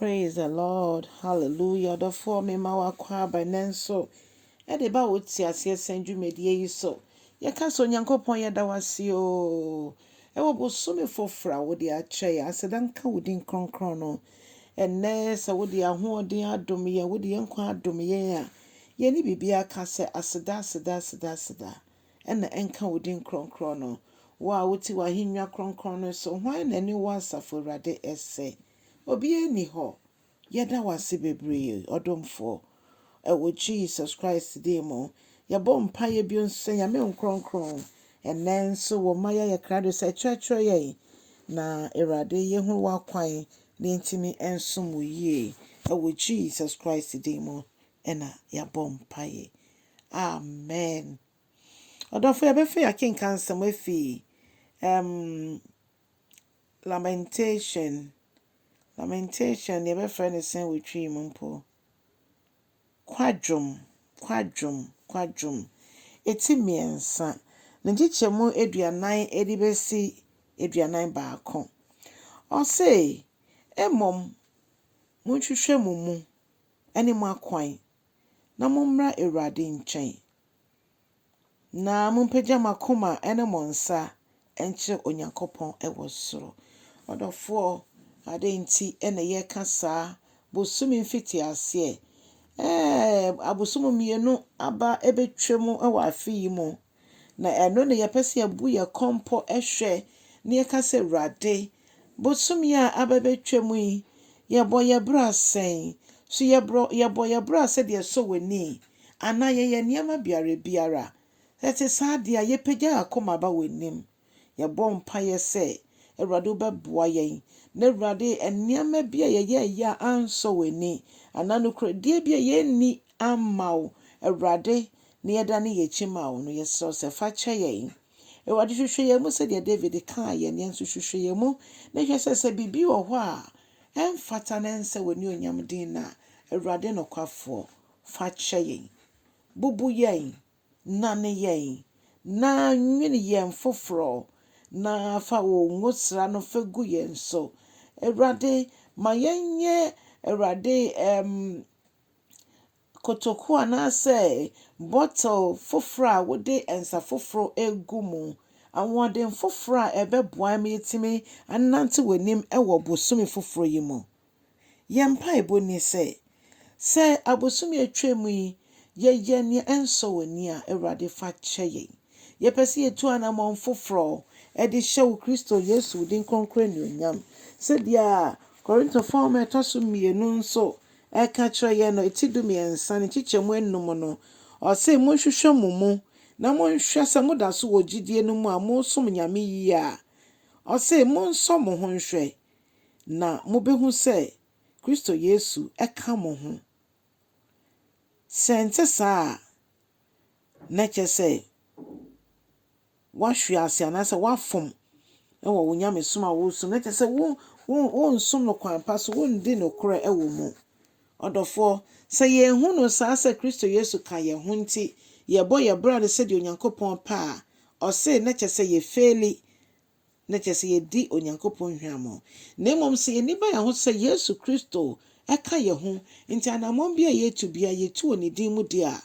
Praise the Lord hallelujah ɔdɔfoɔ me ma w'akwaaba nɛ nso ɛde ba wo te aseɛ sɛn dwumadie yi so yɛ ka sɛ Onyankopɔn yɛ da w'ase oo ɛwɔ bosome foforɔ a wo de akyɛ yɛ aseda nka wo din kronkron no ɛnɛ sɛ wo de ahoɔden adom yɛ wo de yɛ nkwa adom yɛ a yɛ ne biribi aka sɛ aseda aseda aseda aseda. na ɛnka wo din kronkron no. Wo a wote w'ahennwa kronkron no so, hwan na ɛne wo, Asafo Awurade, sɛ? Obiara nni hɔ. Yɛda wo ase bebree, ɔdomfoɔ. Wɔ Jesus Christ din mu, yɛbɔ mpaeɛ bio nso sɛ, Nyame Nkronkron, ɛnnɛ nso wo mma yɛayɛ krado sɛ kyerɛkyerɛ yɛn, na Awurade yɛhunu w'akwan na yɛntumi nsom wo yie. Wɔ Jesus Christ din mu na yɛabɔ mpaeɛ. Amen. Ɔdɔfo, yɛbɛfa yi akenkan nsɛm afi um, Lamentation. Lamentation, deɛ yɛbɛfrɛ no sɛn wɔ twi mu mpo. Kwadwom, kwadwom, kwadwom. Ɛti mmiɛnsa. Ne nkyekyɛ mu aduanan de bɛsi aduanan baako. Ɔse, mmom monhwehwɛ mo mu ne mo akwan na mommra Awurade nkyɛn, na mompagya mo akoma ne mo nsa nkyerɛ Onyankopɔn wɔ soro. Ɔdɔfoɔ, adɛn nti na yɛreka saa bosome mfitiaseɛ? Ɛɛ, abosom mmienu aba bɛtwam wɔ afe yi mu. Na ɛno na yɛpɛ sɛ yɛbu yɛn kɔn pɔ hwɛ na yɛka sɛ, Awurade, bosome a aba abɛtwam yi, yɛbɔ yɛn bra sɛn? So yɛbrɔ, yɛbɔ yɛn bra sɛdeɛ ɛsɔ w'ani? Anaa yɛyɛ nneɛma biara biara? Sɛ ɛte saa deɛ a, yɛpagya yɛn akoma ba w'anim. Yɛbɔ mpaeɛ sɛ Awurade wobɛboa yɛn na Awurade nneɛma bi a yɛyɛeɛ a ansɔ w'ani anaa nokorɛdie bi a yɛnni amma wo Awurade na yɛdane yɛn akyi ma wo no yɛsrɛ wo sɛ fa kyɛ yɛn. Awurade hwehwɛ yɛn mu sɛdeɛ David kaeɛ no yɛn nso hwehwɛ yɛn mu na hwɛ sɛ sɛ biribi wɔ hɔ a ɛmfata na ɛnsɛ w'animuonyam din no a Awurade nokwafoɔ fa kyɛ yɛn. Bubu yɛn. Nane yɛn, na nwene yɛn foforɔ, na fa wo ngosra no fa gu yɛn so. Awurade, ma yɛnyɛ, Awurade, ɛɛm, kotokuo anaasɛ bottle foforɔ a wode nsa foforɔ regu mu, ahoɔden foforɔ a ɛbɛboa ma yɛatumi anante w'anim wɔ bosome foforɔ yi mu. Yɛn mpaebɔ nie sɛ, sɛ abosome a atwam yi yɛyɛ nea ɛnsɔ w'ani a, Awurade fa kyɛ yɛn. Yɛpɛ sɛ yɛtu anammɔn foforɔ de hyɛ wo Kristo Yesu wo din kronkron anuonyam. Sɛdeɛ Korintofo nwoma a ɛtɔ so mmienu nso ka kyerɛ yɛn no, ti dumiɛnsa ne nkyekyɛmu anum no, ɔse, Monhwehwɛ mo mu na monhwɛ sɛ moda so wɔ gyidie no mu a mosom Nyame yie a. Ɔse, monsɔ mo ho nhwɛ. na mubehu sɛ Kristo Yesu ka mo ho. Sɛ ɛnte saa a, na ɛkyerɛ sɛ woahwe ase anaasɛ woafom wɔ wo nyamesom a woresom, na ɛkyerɛ sɛ wo, wo, wonsom no kwan pa so, wondi nokorɛ wɔ mu. Ɔdɔfoɔ, sɛ yɛahu no saa sɛ Kristo Yesu ka yɛn ho nti yɛbɔ yɛn bra no sɛdeɛ Onyankopɔn pɛ a, ɔse na kyerɛ sɛ yɛfeeli na kyerɛ sɛ yɛadi Onyankopɔn nhwammɔ, na mmom sɛ yɛn ani ba yɛn ho sɛ Yesu Kristo ka yɛn ho, nti anammɔn biara a yɛretu biara yɛtu wɔ Ne din mu deɛ a,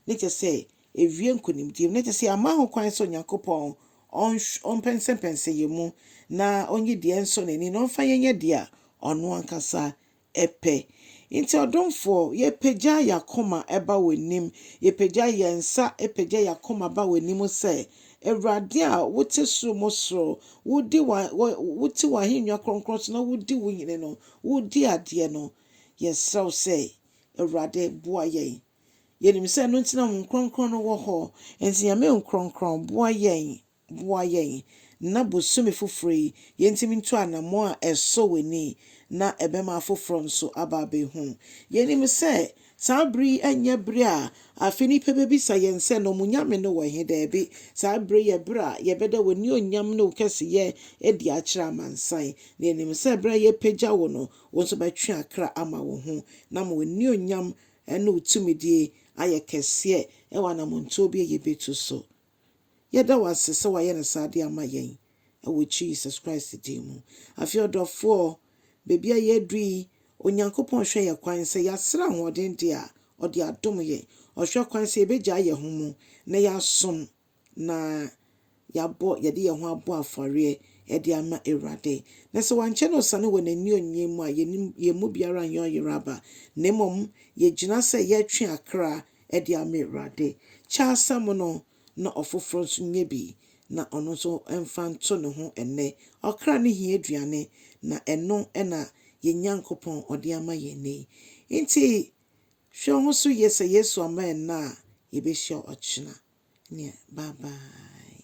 na kyerɛ sɛ ɛwie nkonimdie mu, na kyerɛ sɛ yɛama ho kwan sɛ Onyankopɔn ɔmpɛnsɛmpɛnsɛ yɛn mu, na ɔnyi deɛ ɛnsɔ N'ani na ɔmfa yɛnyɛ deɛ a Ɔno ankasa ɛpɛ. Nti ɔdomfoɔ, yɛpagya y'akoma ba w'anim, yɛpagya yɛnsa pagya y'akoma ba w'anim sɛ, Awurade a wote soro mu soro, wodi wa, wo, wote w'ahennwa kronkron so na wodi wo hene no, woredi adeɛ no, yɛsrɛ wo sɛ, Awurade, boa yɛn. Yɛnim sɛ ɛno nti na Honhom Kronkron no wɔ hɔ. Nti Nyame Nkronkron, boa yɛn. boa yɛn na bosome foforɔ yi yɛntumi ntu anammɔn a ɛsɔ w'ani na ɛbɛma afoforɔ nso aba abɛhu. Yɛnim sɛ saa berɛ yi nyɛ berɛ a afei nnipa bɛbisa yɛn sɛ na wɔn nyame no wɔ he? Daabi, saa berɛ yi yɛ berɛ a yɛbɛda w'animuonyam ne wo kɛseyɛ adi akyerɛ amansan, na yɛnim sɛ berɛ a yɛrepagya wo no, wo nso bɛtwe akra ama wo ho na ama w'animuonyam ne wo tumidie ayɛ kɛseɛ wɔ anammɔntuo bi a yɛbɛtu so Yɛda wo ase sɛ wayɛ no saa de ama yɛn wɔ Jesus Christ din mu. Afei ɔdɔfoɔ, baabi a yɛaduru yi, Onyankopɔn hwɛ yɛn kwan sɛ yɛasrɛ ahoɔden deɛ a, ɔde adom yɛn. Ɔhwɛ kwan sɛ yɛbɛgyae yɛn ho mu na yɛasom na yɛabɔ, yɛde yɛn ho abɔ afɔreɛ de ama Awurade. Na sɛ wankyɛ na ɔsane wɔ n'aniɔnyem mu a, yɛn mu biara nyɛ ɔyere aba, na mmom yɛgyina sɛ yɛretwe akra de ama Awurade. Kyɛ asɛm no, na ɔfoforɔ nso nyɛ bi, na ɔno nso mfa nto ne ho nnɛ. Ɔkra no hia aduane, na ɛno na yɛn Nyankopɔn ɔde ama yɛn nnɛ yi. Enti hwɛ wo ho so yie sɛ Yesu amma ɛnnɛ a, yɛbɛhyia ɔkyena. Neɛ bye bye.